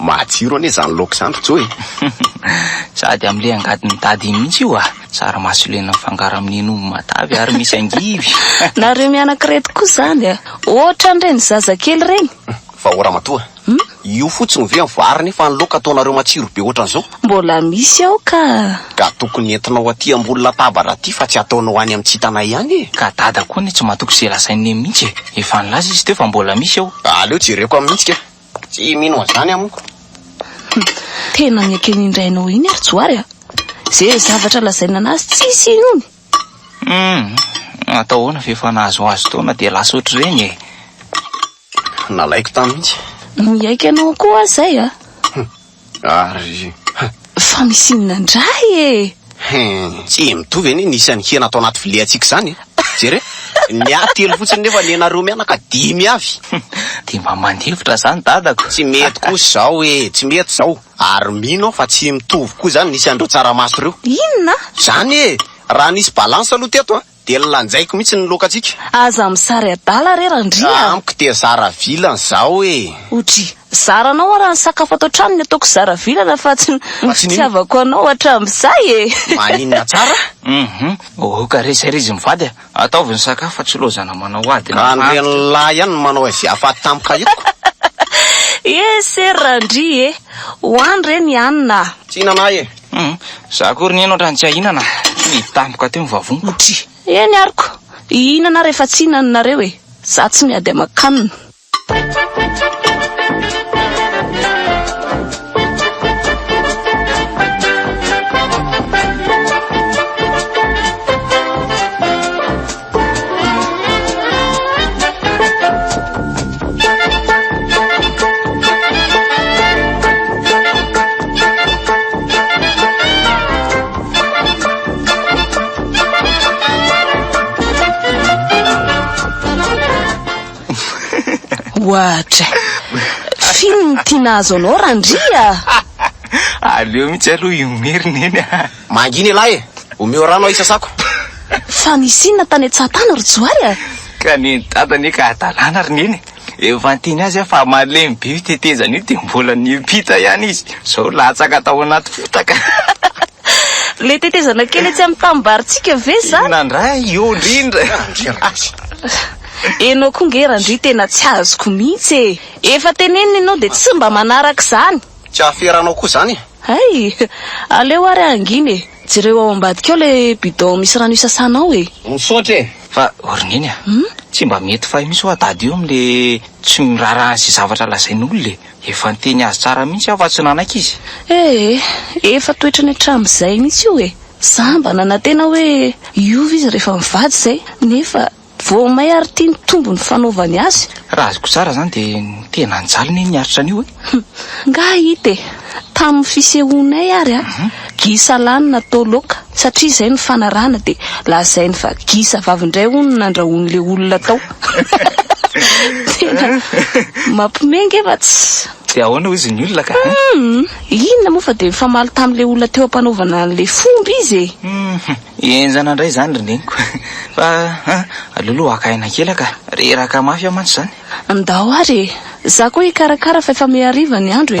Matsiro anie zany loka zany ry Joe Sady amle angady mitady iny mihitsy io ah. Tsara masolena mifangaro amin'ny hen'omby matavy ary misy angivy. Nareo mianak'ireto koa zany a. Ohatran'ireny zazakely ireny. Fa o Ramatoa, Hum? Io fotsiny ve ny vary nefa ny laoka ataonareo matsiro be ohatran'izao? Mbola misy ao ka! Ka tokony entinao aty ambony latabatra aty fa tsy ataonao any amin'ny tsitana ihany e! Ka dada koa anie tsy matoky izay lazain'i neny mihitsy e! Efa nilaza izy teo fa mbola misy ao! Aleo jereko amin'ny hetsika e! Tsy mino an'izany aho moa! Hum! Tena ny ekeny indray nao iny ry Johary a! Ze zavatra lazainy an'azy tsisy inony! Hum! Atao ahoana fa efa nahazoazo taona dia lasa ohatr'ireny e! Nalaiko tany mihitsy. Miaiky anao koa aho izay a! Humm! Ary huh! Fa misy inona indray e! Hum! Tsy mitovy anie ny isan'ny hena ato anaty viliantsika izany e! Jereo! Ny ahy telo fotsiny nefa ny anareo mianaka dimy avy! Humm! Dia mba mandefitra izany dadako! Tsy mety kosa izao e! Tsy mety izao! Ary mino aho fa tsy mitovy koa izany ny isan'ireo tsaramaso ireo! Inona? Izany e! Raha nisy balance aloha teto an! Dia lanjaiko mihitsy ny lokantsika. Aza misary adala re Randria a! Amiko dia zara vilany zaho e! Odry, zaranao ara ny sakafo ato an-trano ny ataoko zara vilana fa tsy ny fitiavako anao hatramizay e! Maninona tsara? Uhum, oh ka re sairizin ny vady a! Ataovy ny sakafo fa tsy lozana manao ady na antitra. Andrian lahy ihany no manao izay afaty tampoka hitako. Ese Randria e! Ho any re ny hanina a! Tsy hihinana ahy e! Humm, za akory nihaino hatrany tsy ahinana, ny tampoka teo ny vavoniko. Ndry. Eny aroko, hihinana rehefa tsy hihinana nareo e, za tsy miady aman-kanina. Ohatra. Film tiana azo anao Randria. Aleo mihitsy aloha io merina iny. Mangina elah e! Omeo rano aho hisasako. Fa nisy inona tany an-tsahatany ry Johary a? Ka neny dada anie ka hadalana ry neny e! Efa niteny azy aho fa malemy be io tetezana io dia mbola niampita ihany izy, izao latsaka tao anaty fotaka. Ilay tetezana kely etsy amin'ny tanim-barintsika ve izany? Inona indray io indrindra? Enao koa nge Randria tena tsy azoko mihitsy e! Efa tenenina ianao dia tsy mba manaraka izany. Tsy ahaferanao koa izany e! Hay! Aleo ary hangina e! Jereo ao ambadika ao ilay bidon misy rano isasanao e! Misaotra e! Fa ry Neny a! Tsy mba mety fay mihitsy ho'a Dada io amin'le tsy miraharaha an'izay zavatra lazain'olona e! Efa niteny azy tsara mihitsy aho fa tsy nanaiky izy. Ee, efa toetrany hatramin'izay mihitsy io e! Za mba nanantena hoe hiova izy rehefa mivady izay, nefa. Vao may ary tia ny tombony fanaovany azy. Raha azoko tsara zany de tena nijaly ne ny aritra anio e! Hum! Nga hita e! Tamin'ny fisehoanay ary a! Gisa lahy no natao loka satria izay no fanarahana de lazainy fa gisa vavy indray hono no nandrahoan'le olona tao! Tena mampime nge fa tsy. De ahoana hozy ny olona ka? Hum! Inona moa fa de nifamaly tamin'le olona teo ampanaovana an'le fomba izy e! Hum! Enjana ndray zany ry neniko. Fa an, aleo aloha haka aina kely aka. Reraka mafy aho mantsy zany. Ndao ary e! Za koa hikarakara fa efa mihariva ny andro e!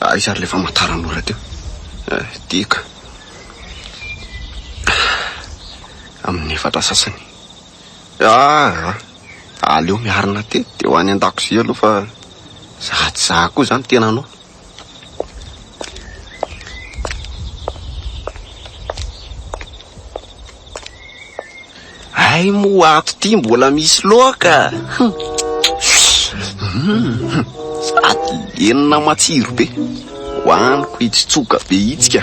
Aiza ary ilay famantaran'ora teo? Dia ka. Amin'ny efatra sasany. Ah! Aleo miarina tety dia ho any an-dakozia aloha fa za tsy za koa izany tena anao. Hay moa ato ty mbola misy loaka sady lenona matsiro be hoaniko hitsitsoka be itsy ka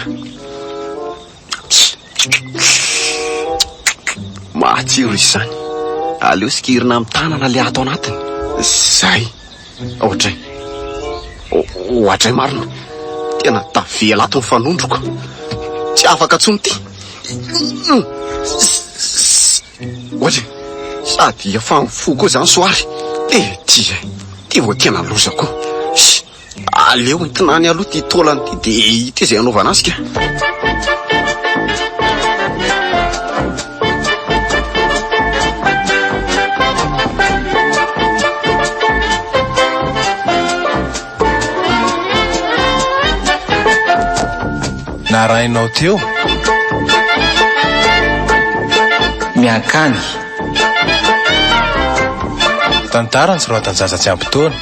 matsiro izany aleo sikirina amin'ny tanana le ato anatiny zay Oadray. Oadray marina. Tena tavela ato ny fanondroko. Tsy afaka tsony ty. Oadray. Sady efa mifoha koa zany soary. Eh, ty eh. Ty vao tena loza koa. Aleo entina any aloha ty taolany ty dia ity izay anaovana azy ka. narahinao teo? Miankany. Tantara ny soratan'i Zaza tsy ampy taona.